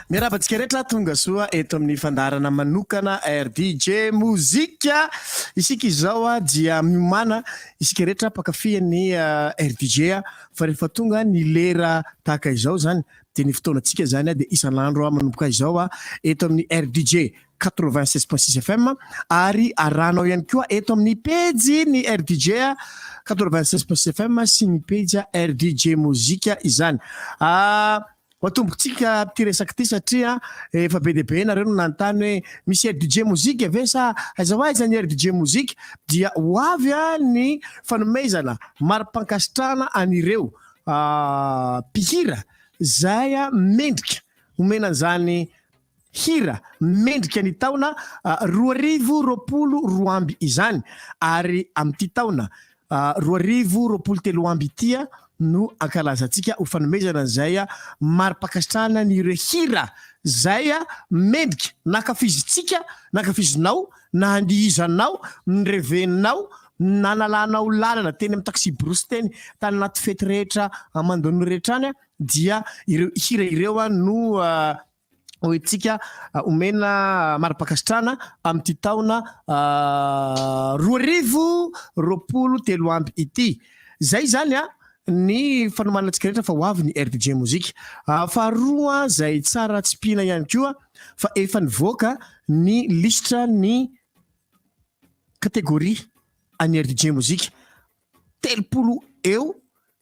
Miarahaba antsika rehetra tonga soa eto amin'ny fandaharana manokana RDJ Mozika. Isika izao ah, dia miomana isika rehetra mpakafian'ny ah, RDJ ah, fa rehefa tonga ny lera tahaka izao zany dia ny fotoanantsika zany ah, dia isan'andro ah, manomboka izao ah, eto amin'ny RDJ. quatre-vingt-seize point six FM ary arahanao ihany koa eto amin'ny pejy ny RDJ quatre-vingt-seize point six FM sy ny pejy RDJ mozika izany. Ah, matombontsika ity resaka ity satria efa be dia be nareo no nanontany hoe misy RDJ mozika ve sa aiza ho aiza ny RDJ mozika dia ho avy ny fanomezana mari-pankasitrahana an'ireo ah, mpihira zay mendrika omena an'izany Hira mendrika ny taona roa arivo roapolo roa amby izany ary amin'ity taona roa arivo roapolo telo amby ity no ankalazantsika ho fanomezana izay mari-pankasitrahana an'ireo hira izay mendrika nankafizintsika, nankafizinao, nandihizanao, nirevenao, nanalanao lalana teny amin'ny taxi-brousse teny, tany anaty fety rehetra aman-doha rehetra any dia ireo hira ireo no hoentsika omena mari-pankasitrahana amin'ity taona roa arivo roapolo telo amby ity. Izay izany a ny fanomanana antsika rehetra fa ho avy ny RDJ Mozika. Faharoa izay tsara tsipihina ihany koa fa efa nivoaka ny lisitra ny kategoria an'ny RDJ Mozika. telopolo eo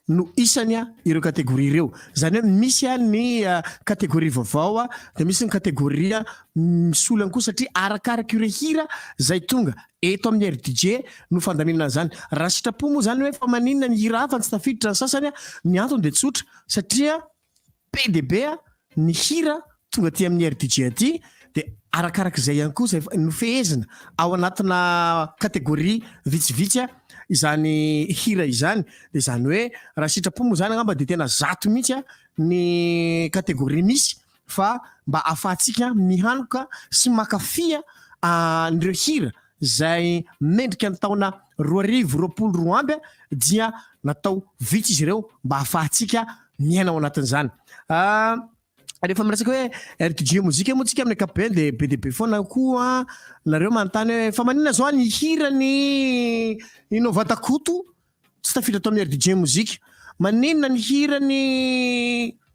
no isany ireo kategoria ireo. Izany hoe misy ny kategoria vaovao dia misy ny kategoria misolo ihany koa satria arakaraka ireo hira izay tonga eto amin'ny Air DJ no fandaminana an'izany. Raha sitrapo moa izany hoe fa maninona ny hira hafa no tsy tafiditra ny sasany, ny antony dia tsotra satria Be dia be ny hira tonga aty amin'ny RDJ aty dia arakaraka izay ihany koa izay nofehezina ao anatina catégorie vitsivitsy izany hira izany dia izany hoe raha sitrapo moa izany angamba dia tena zato mihitsy ny catégorie misy fa mba afahantsika mihanoka sy makafia an'ireo hira izay mendrika ny taona roa arivo roapolo roa amby dia natao vitsy izy ireo mba hahafahantsika miaina ao anatin'izany rehefa miresaka hoe RTG mozika moa tsika amin'ny ankapobeny dia be dia be foana koa nareo manontany hoe fa manina zao ny hira ny Innova Takoto tsy tafiditra ato amin'ny RTG mozika manina ny hira ny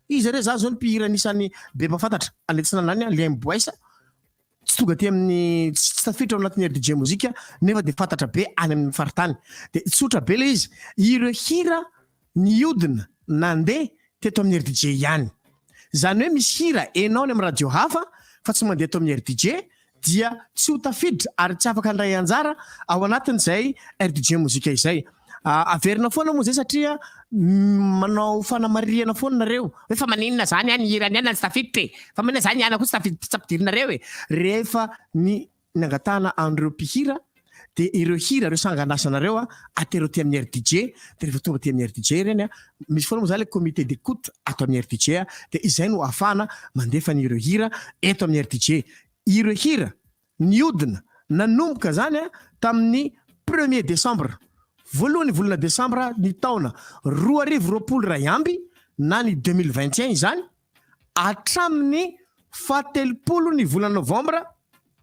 izy re za zao ny mpihira anisan'ny be mpafantatra any atsinanana any Liam Boyce tsy tonga aty amin'ny tsy tsy tafiditra ao anatin'ny RDJ mozika nefa dia fantatra be any amin'ny faritany dia tsotra be ilay izy ireo hira niodina nandeha teto amin'ny RDJ ihany izany hoe misy hira enao any amin'ny radio hafa fa tsy mandeha eto amin'ny RDJ dia tsy ho tafiditra ary tsy afaka handray anjara ao anatin'izay RDJ mozika izay Averina foana moa zay satria manao fanamarihana foana nareo hoe fa maninona zany any hirany any tsy tafiditra e fa maninona zany ihana koa tsy tafiditra tsy ampidirinareo e rehefa ny nangatahana an'ireo mpihira dia ireo hira ireo sangan'asanareo a atero aty amin'ny RDJ dia rehefa tonga aty amin'ny RDJ ireny a misy foana moa zany le comité d'écoute ato amin'ny RDJ a dia izay no afahana mandefa an'ireo hira eto amin'ny RDJ ireo hira Nihodina, nanomboka izany tamin'ny premier décembre, voalohan'ny volana desambra ny taona roa arivo roapolo iray amby na ny deux mille vingt et un izany, hatramin'ny fahatelopolo ny volana novambra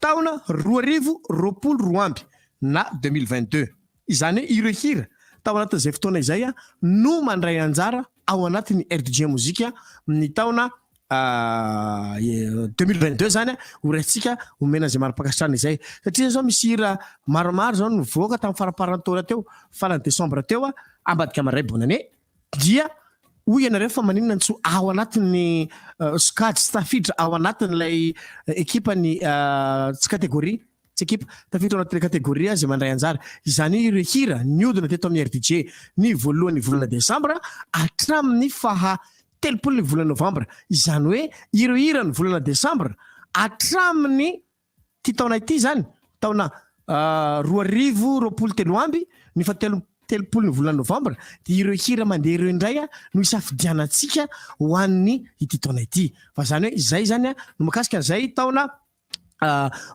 taona roa arivo roapolo roa amby na deux mille vingt deux. Izany hoe ireo hira tao anatin'izay fotoana izay no mandray anjara ao anatin'ny rdg Music ny taona deux mille vingt deux zany ho raisintsika omena an'izay mari-pankasitrahana izay satria zao misy hira maromaro zao nivoaka tamin'ny faramparan'ny taona teo farany desambra teo ambadika maray bonne année dia hoy ianareo fa maninona ny tsy ho ao anatin'ny sokajy sy tafiditra ao anatin'ilay ekipan'ny tsy kategoria Tsy ekipa, tafiditra ao anatin'ny kategoria izay mandray anjara. Izany hoe ireo hira nihodina teto amin'ny RDJ ny voalohan'ny volana desambra hatramin'ny faha telopolo ny volana novambra. Izany hoe ireo hiran'ny volana desambra hatramin'ity taona ity izany, taona roa arivo roapolo telo amby, ny faha telo telopolo ny volana novambra dia ireo hira mandeha ireo indray no isafidianantsika ho an'ny ity taona ity. Fa izany hoe izay izany no makasika an'izay taona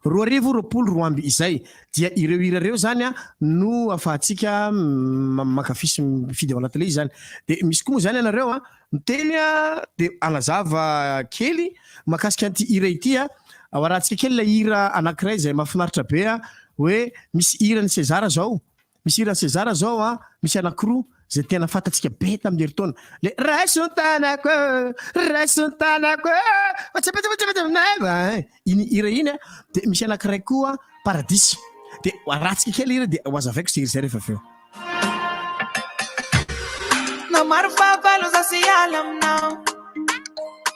roa arivo roapolo roa amby izay dia ireo hira ireo zany no afahantsika mankafy sy mifidy ao anatin'ilay izy zany de misy koa moa zany ianareo a miteny a de agnazava kely makasika an'ity hira ity a ao arahantsika kely ilay hira anankiray izay mahafinaritra be a hoe misy hiran'i Sezara zao Misy hiran'i Sezara zao an, misy anakiroa zay tena fantatsika be tamin'ny herintaona, le raiso ny tanako e, raiso ny tanako e, iny hira iny an, dia misy anakiray koa paradisa, dia arahantsika kely hira dia ho azavaiko izay hira izay rehefa avy eo. Na maro fahavalo za sy hiala aminao.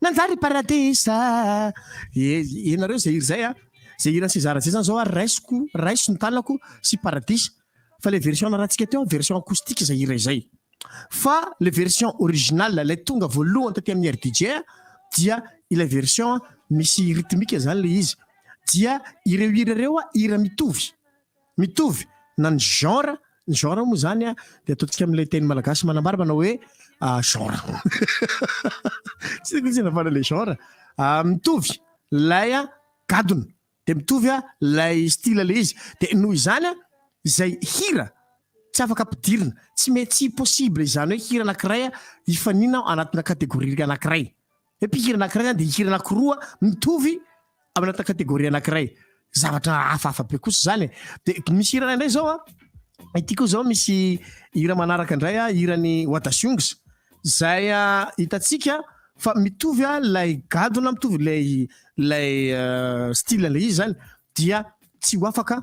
Nanjary paradisa e ianareo izay hira izay a, izay hiran'i Seza Rajean izany izao ary raisiko, raiso ny tanako sy paradisa fa ilay version narantsika teo version acoustique izay hira izay fa ilay version originale ilay tonga voalohany taty amin'ny rdj dia ilay version misy rythmique izany ilay izy dia ireo hira ireo hira mitovy Mitovy na ny genre, ny genre moa izany an, dia ataontsika amin'ilay teny malagasy manambara manao hoe genre. Tsy haiko mihitsy na fanao ilay genre. Mitovy ilay gadona, dia mitovy ilay style ilay izy. Dia noho izany an, izay hira tsy afaka ampidirina, tsy mety, tsy possible izany hoe hira anankiray hifanina ao anatina catégorie anankiray. Ny mpihira anankiray zany dia hihira anankiroa mitovy ao anatina catégorie anankiray. Zavatra hafahafa be kosa izany e. Dia misy hira iray indray izao an, ity koa izao misy hira manaraka indray an, hiran'i Wadasungs, izay hitantsika fa mitovy ilay gadona, mitovy ilay ilay style ilay izy izany dia tsy ho afaka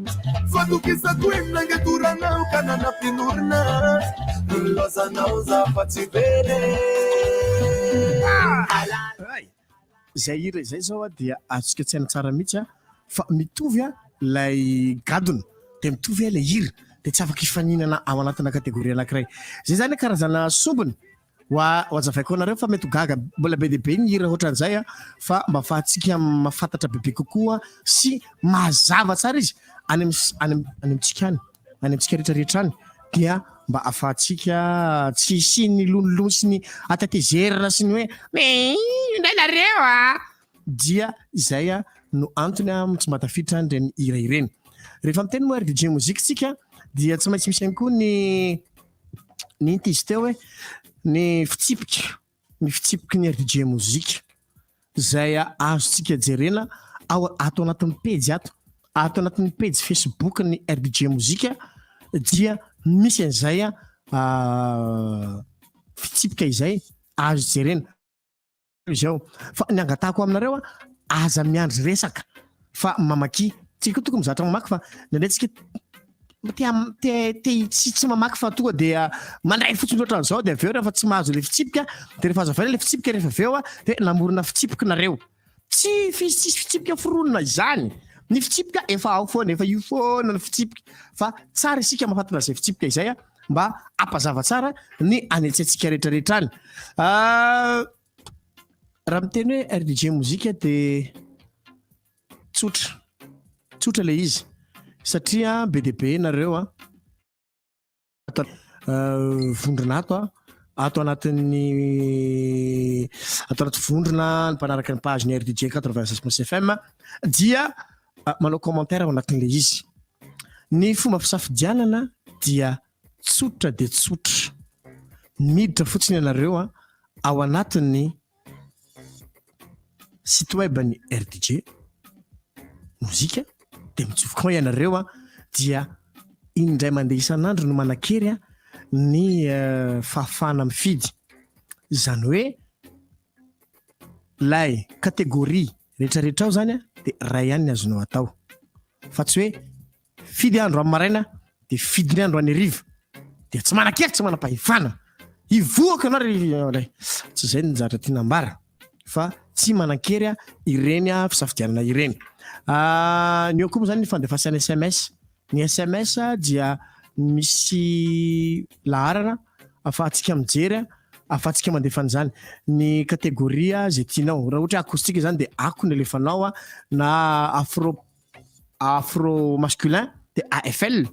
Fatokisako eny nangatoranao ka nanafin'orina Ny nilaozanao za fa tsy very e Izay hira izay zao dia azontsika tsaina tsara mihitsy fa mitovy ilay gadona dia mitovy ilay hira dia tsy afaka hifaninana ao anatina kategoria anankiray. Izay izany karazana sombiny Wa wazavaiko anareo fa mety ho gaga mbola be dia be ny hira ohatran'izay a fa mba afahantsika mahafantatra bebe kokoa sy mazava tsara izy any am any am any amintsika any any amintsika rehetra rehetra any dia mba afahantsika tsy hisian'ny lonilony sy ny atatezerana sy ny hoe me indray nareo a dia izay a no antony a tsy mba tafiditra any ireny hira ireny rehefa miteny moa rdj mozika tsika dia tsy maintsy misy ihany koa ny Nenty izy teo hoe ny fitsipika, ny fitsipiky ny RDJ Mozika izay azontsika jerena ao ato anatin'ny pejy ato, ato anatin'ny pejy Facebook ny RDJ Mozika dia misy an'izay fitsipika izay azo jerena. Izao fa ny angatahako aminareo a, aza miandry resaka fa mamaky. Tsy ko tokony mizatra mamaky fa nandray tsika te te te tsy tsy mamaky fa toa dia mandray fotsiny loatra an'izao dia avy eo rehefa tsy mahazo le fitsipika dia rehefa azavaina le fitsipika rehefa avy eo a dia namorona fitsipiky nareo. Tsy fis- tsisy fitsipika foronina izany. Ny fitsipika efa ao foana, efa io foana ny fitsipika fa tsara isika mahafantra izay fitsipika izay a. mba hampazava tsara ny any an-tsaintsika rehetrarehetra any. Ah, raha miteny hoe RDJ mozika dia tsotra, tsotra ilay izy satria be dia be nareo a ah. ah, vondrona ato a ato anatin'ny ato anaty vondrona ny mpanaraka ny page ny RDJ 96 fm dia ah, manao commentaire ao anatin'ilay izy ny fomba fisafidianana dia tsotra dia tsotra miditra fotsiny ianareo a ah, ao anatin'ny site web ny rdj mozika dia mitsovokan ianareo a ah, dia indray mandeha isan'andro no manakery a ny eh, fahafahana mifidy izany hoe lay kategoria Rehetra rehetrao zany a de ray ihany ny azonao atao fa tsy hoe fidy andro amin'ny maraina de fidy ny andro any riva dia tsy manakely tsy manam-pahefana hivoaka anao ry tsy izay ny zatra tiana ambara fa tsy manankery a ireny a fisafidianana ireny ah, ny eo koa moa zany ny fandefasana sms Ny sms dia misy laharana afahantsika mijery, afahantsika mandefa an'izany. Ny kategoria izay tianao. Raha ohatra hoe acoustique izany dia ako no alefanao na afro afro masculin dia AFL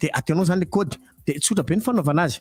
dia ataonao izany ilay kaody dia tsotra be ny fanaovana azy.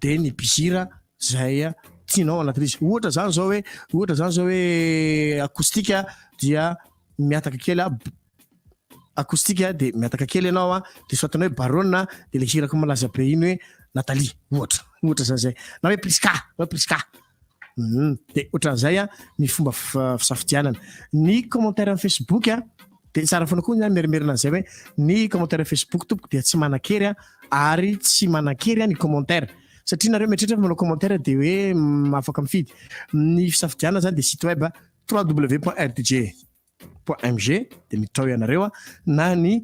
dia ny bizira izay tianao ao anatin'izy. Ohatra izany izao hoe ohatra izany izao hoe acoustique dia miataka kely acoustique dia miataka kely ianao a dia soatina hoe barona dia ilay hirako malaza be iny hoe Nathalie ohatra ohatra izany izay na hoe Prisca na hoe Prisca Hum, dia ohatran'izay a ny fomba fisafidianana ny commentaire amin'ny facebook a dia tsara foana koa ny merimerina an'izay hoe ny commentaire facebook tompoko dia tsy manan-kery a ary tsy manan-kery a ny commentaire satria nareo mieritreritra fa manao commentaire dia hoe afaka mifidy ny fisafidianana zany dia site web www.rdg .mg dia miditra ao ianareo a na ny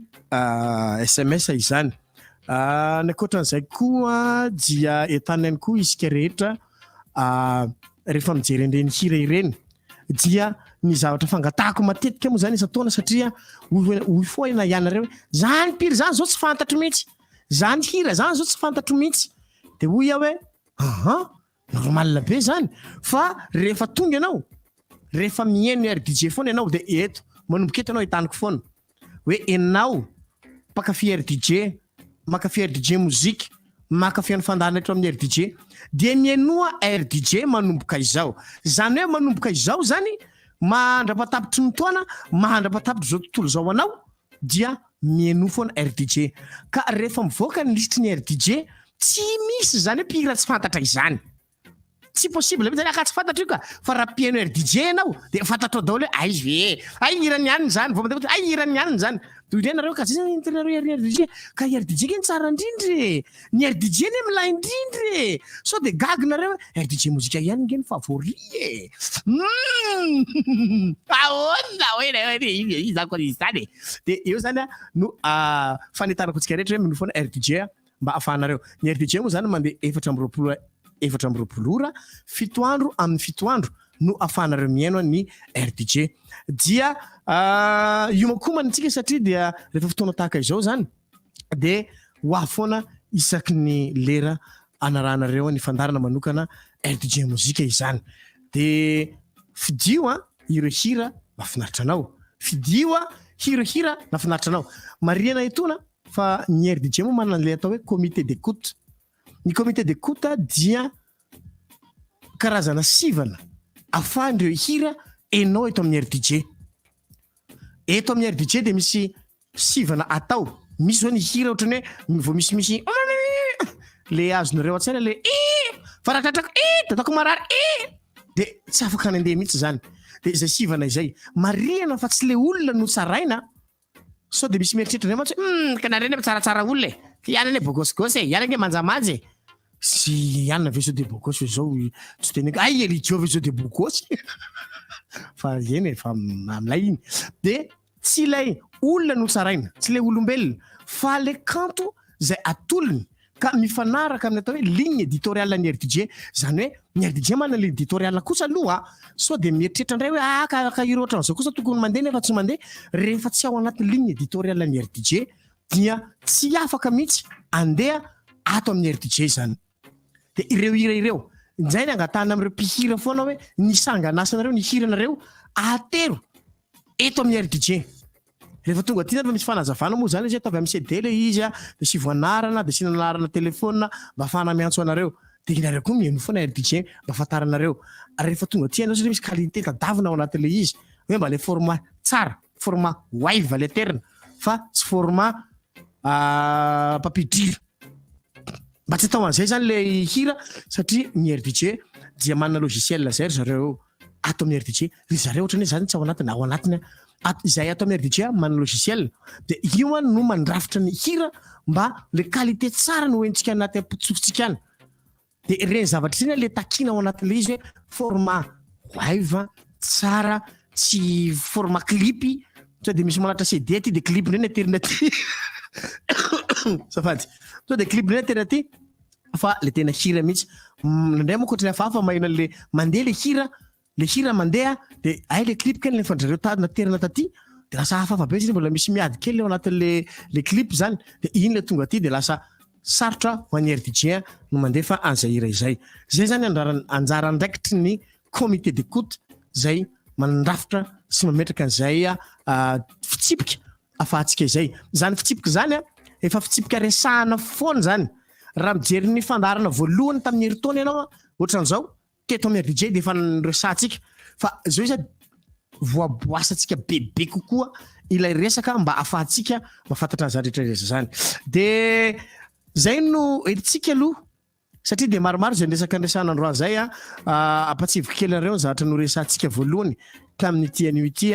sms izany ny ankoatran'izay koa dia entana ihany koa isika rehetra rehefa mijery an'ireny hira ireny dia ny zavatra fangatahako matetika moa izany isan-taona satria hoy foana ianareo hoe izany mpihira izany izao tsy fantatro mihitsy izany hira izany izao tsy fantatro mihitsy dia hoy aho hoe aha Normal be zany fa rehefa tonga ianao rehefa mihaino ny rdj foana ianao dia eto manomboka eto ianao hitaniko foana hoe enao mpakafy rdj makafy rdj mozika makafy an'ny fandahana eto amin'ny rdj dia mihainoa rdj manomboka izao zany hoe manomboka izao zany mahandrapatapitry ny toana mahandrapatapitry izao tontolo izao anao dia mihainoa foana RDJ ka rehefa mivoaka ny lisitry ny RDJ tsy misy izany hoe mpihira tsy fantatra izany tsy possible mihitsy zany ka tsy fantatro io ka fa raha mpihaino RDJ ianao dia fantatrao daholo hoe aiz ve ay hiran'ny alina izany vao mandeha ay hiran'ny alina izany toy ireny nareo ka zay zany ny tianareo RDJ ka RDJ anie tsara indrindra e Ny RDJ anie milay indrindra e! Sao dia gaga nareo hoe RDJ mozika ihany nge ny favori e! Humm! Ahoana hoe ilay hoe iza iza akory izany e! Dia eo izany no fanentanako antsika rehetra hoe minoa foana RDJ mba ahafahanareo. Ny RDJ moa izany mandeha efatra amby roapolo efatra amby roapolo ora, fito andro amin'ny fito andro no ahafahanareo mihaino ny RDJ. Dia hiomakomana antsika satria dia rehefa fotoana tahaka izao izany. de ho avy foana isaky ny lera anarahanareo ny fandarana manokana rdj mozika izany de fidio a ireo hira mafinaritra anao fidio a hira hira nafinaritra anao marihana etoana fa ny rdj moa manana an'le atao hoe comité de coute ny comité de coute dia karazana sivana afahan'ireo hira enao eto amin'ny rdj Eto amin'ny RDJ dia misy sivana atao. Misy zao ny hira ohatran'ny hoe vao misimisy le azonareo an-tsaina le i fa raha tratrako i de ataoko marary i de tsy afaka nandeha mihitsy zany de izay sivana izay marihana fa tsy le olona no tsaraina sao de misy mieritreritra ndray mantsy hmm, ka nareny tsaratsara olona e ianany e bogosgosy e ianany e manjamanja e Tsy i Anna Vaisseau de Burgos ve izao tsy teneniko hay i Elidio Vaisseau de Burgos fa eny e fa amin'ilay iny dia tsy ilay olona no tsaraina tsy ilay olombelona fa ilay kanto izay atolony ka mifanaraka amin'ny atao hoe ligne éditoriale ny RDJ izany hoe ny RDJ manana ligne éditoriale kosa aloha sao dia mieritreritra indray hoe ah ka ka ireo ohatran'izao kosa tokony mandeha nefa tsy mandeha rehefa tsy ao anaty ligne éditoriale ny RDJ dia tsy afaka mihitsy andeha ato amin'ny RDJ izany. Dia ireo hira ireo, izay ny angatahana amin'ireo mpihira foana hoe ny sangan'asanareo, ny hiranareo ahatero eto amin'ny RDJ. Rehefa tonga aty izany misy fanazavana moa izany izy hoe ataovy amin'ny CD ilay izy, dia asivo anarana, dia asiana anarana telefaonina mba hahafahana miantso anareo. Dia ianareo koa mihaino foana RDJ mba hahafantaranareo. Ary rehefa tonga aty ianao satria misy qualité tadavina ao anatin'ilay izy, hoe mba ilay format tsara. Format wave le terina fa tsy format papier dira. Mba tsy atao an'izay zany le hira satria ny RDJ dia manana logiciel zay ry zareo ato amin'ny RDJ. Ry zareo ohatrany hoe za tsy ao anatiny na ao anatiny aho. At- Izay ato amin'ny RDJ manana logiciel dia io any no mandrafitra ny hira mba le qualité tsara no hoentintsika anaty am-pontsika any. De ireny zavatra ireny le takina ao anatin'ilay izy hoe forma wave tsara tsy forma clipy sao de misy manatra CD aty de clip ndray ny aterina aty safady sao de clip ndray ny aterina aty fa le tena hira mihitsy mm, ndray moa kotrany hafahafa maheno an'le mandeha le hira le hira mandeha de ay le clip kely nefa drareo tady naterina taty de lasa hafahafa be zany mbola misy miady kely eo anatin'le le clip zany de iny le tonga aty de lasa sarotra ho an'ny rdj no mandefa an'izay hira izay zay zany andrarany anjara andraikitry ny comité d'écoute zay mandrafitra sy mametraka an'izay ah, fitsipika afahantsika izay zany fitsipika zany a ah, efa fitsipika resahana foana zany raha mijery ny fandaharana voalohany tamin'ny heritonina ianao ah, ohatran'izao Teto amin'ny Abidjan dia efa niresahantsika fa izao izy voaboasantsika bebe kokoa ilay resaka mba afahantsika mahafantatra an'izany rehetra rehetra izany. Dia izay no entintsika aloha satria dia maromaro izay resaka niresahana androany izay. Ampatsivo kely anareo ny zavatra noresahantsika voalohany tamin'ity anio ity.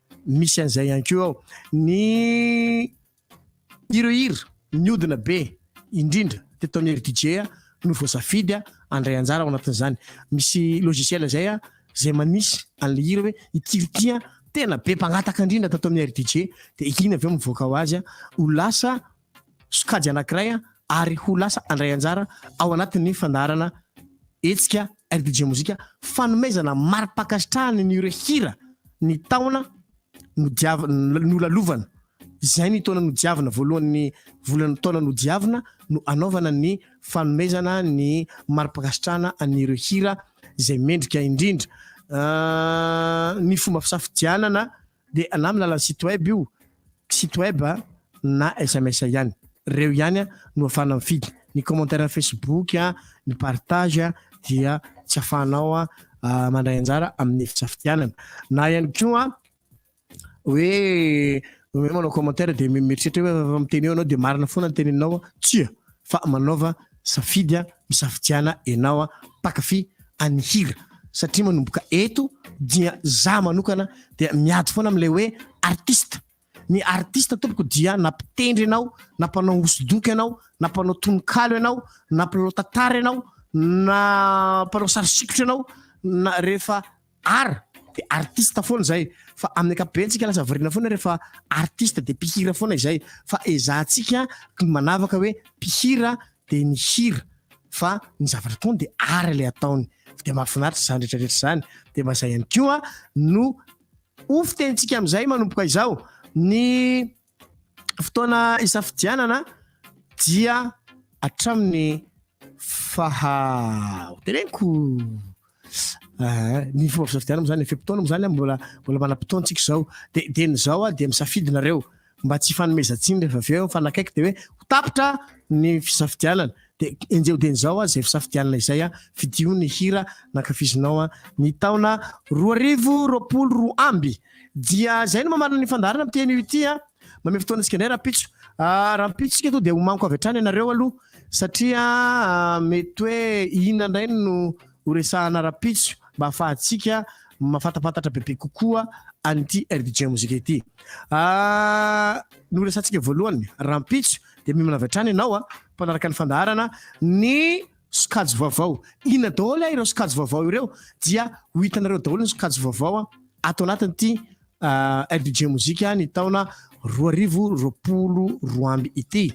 misy an'izay ihany koa ao ny ireo hira niodina be indrindra teto amin'ny Eri DJ no voasafidy handray anjara ao anatin'izany. Misy logiciel izay izay manisy an'ilay hira hoe ity ity tena be mpangataka indrindra tato amin'ny Eri DJ dia iny avy eo mivoaka ho azy ho lasa sokajy anankiray ary ho lasa handray anjara ao anatin'ny fandaharana hetsika RDJ Mozika fanomezana mari-pankasitrahana ny ireo hira ny taona nodiavina nolalovana izay ny taona nodiavina voalohan'ny volana taona nodiavina no anaovana ny fanomezana ny mari-pankasitrahana ny ireo hira izay mendrika indrindra ah, ny fomba fisafidianana Dia na amin'ny alalan'ny site web io, site web na sms ihany. Ireo ihany no afahana mifidy. Ny commentaire Facebook, ny partage dia tsy afahanao mandray anjara amin'ny fisafidianana. Na ihany koa hoe hoe manao commentaire dia mieritreritra hoe miteny eo ianao dia marina foana ny teneninao. Tsia, fa manaova. Safidy a misafidiana enao a mpakafy an'ny hira satria manomboka eto dia za manokana dia miady foana amle hoe artiste ny artiste tompoko dia na mpitendry enao na mpanao hosodoko enao na mpanao tononkalo enao na mpilalao tantara enao na mpanao sary sikotra enao na rehefa Art dia artiste foana izay fa amin'ny ankapobeny tsika lasa variana foana rehefa artiste dia mpihira foana izay fa ezahantsika ny manavaka hoe mpihira dia ny hira fa ny zavatra ataony dia art ilay ataony dia mahafinaritra izany rehetrarehetra izany dia mba izay ihany koa no ho fitenintsika amin'izay manomboka izao ny fotoana isafidianana dia hatramin'ny faha ho teneniko ny fomba fisafidianana izany fe-potoana moa izany mbola mbola manam-potoantsika izao dia dia ny izao dia misafidy nareo mba tsy hifanomezan-tsiny rehefa avy eo mifanakaiky dia hoe ho tapitra ny fisafidianana Dia enjeho dieny izao an, izay fisafidianana izay an, fidio ny hira nankafizinao an, ny taona roa arivo roapolo roa amby. Dia izay no mamarana ny fandaharana amin'ity anio ity an, manome fotoana antsika indray rahampitso. Rahampitso isika aloha dia ho manko avy hatrany ianareo aloha satria mety hoe inona indray no ho resahana rahampitso mba hahafahantsika mafatapatatra bebe kokoa an'ity RDJ Musique ity. Noresahantsika voalohany rahampitso Dia miomana avy hatrany ianao a, mpanaraka ny fandaharana ny sokajy vaovao. Inona daholo a ireo sokajy vaovao ireo? Dia ho hitanareo daholo ny sokajy vaovao a ato anatin'ity LDJ mozika ny taona roa arivo roapolo roa amby ity.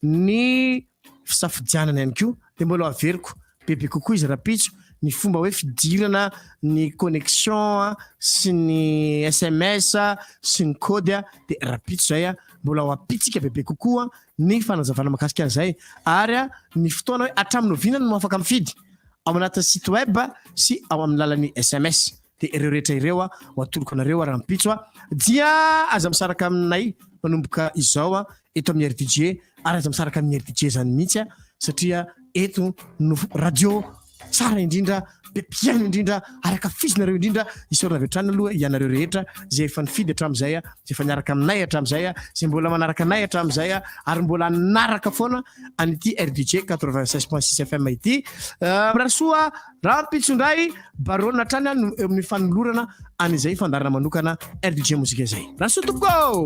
Ny fisafidianana ihany koa dia mbola averiko bebe kokoa izy rapitso ny fomba hoe fidirana ny connexion a sy ny sms a sy ny kody a de rapitso zay a mbola ho apitsika bebe kokoa ny fanazavana makasika an'izay ary a ny fotoana hoe hatramin'ny oviana no afaka mifidy ao anatin'ny site web sy ao amin'ny lalan'ny sms Dia ireo rehetra ireo ho atoloko anareo rahampitso dia aza misaraka aminay manomboka izao eto amin'ny RDJ ary aza misaraka amin'ny RDJ izany mihitsy satria eto no radio tsara indrindra be mpihaino indrindra ary akafizinareo indrindra isaorana avy hatrany aloha ianareo rehetra izay efa nifidy hatramin'izay izay efa niaraka aminay hatramin'izay izay mbola manaraka anay hatramin'izay ary mbola naraka foana an'ity RDJ 96.6 FM ity euh, mirary soa Rahampitso indray Barona hatrany any eo amin'ny fanolorana an'izay fandaharana manokana RDJ Mozika izay. Rasoa tompoko!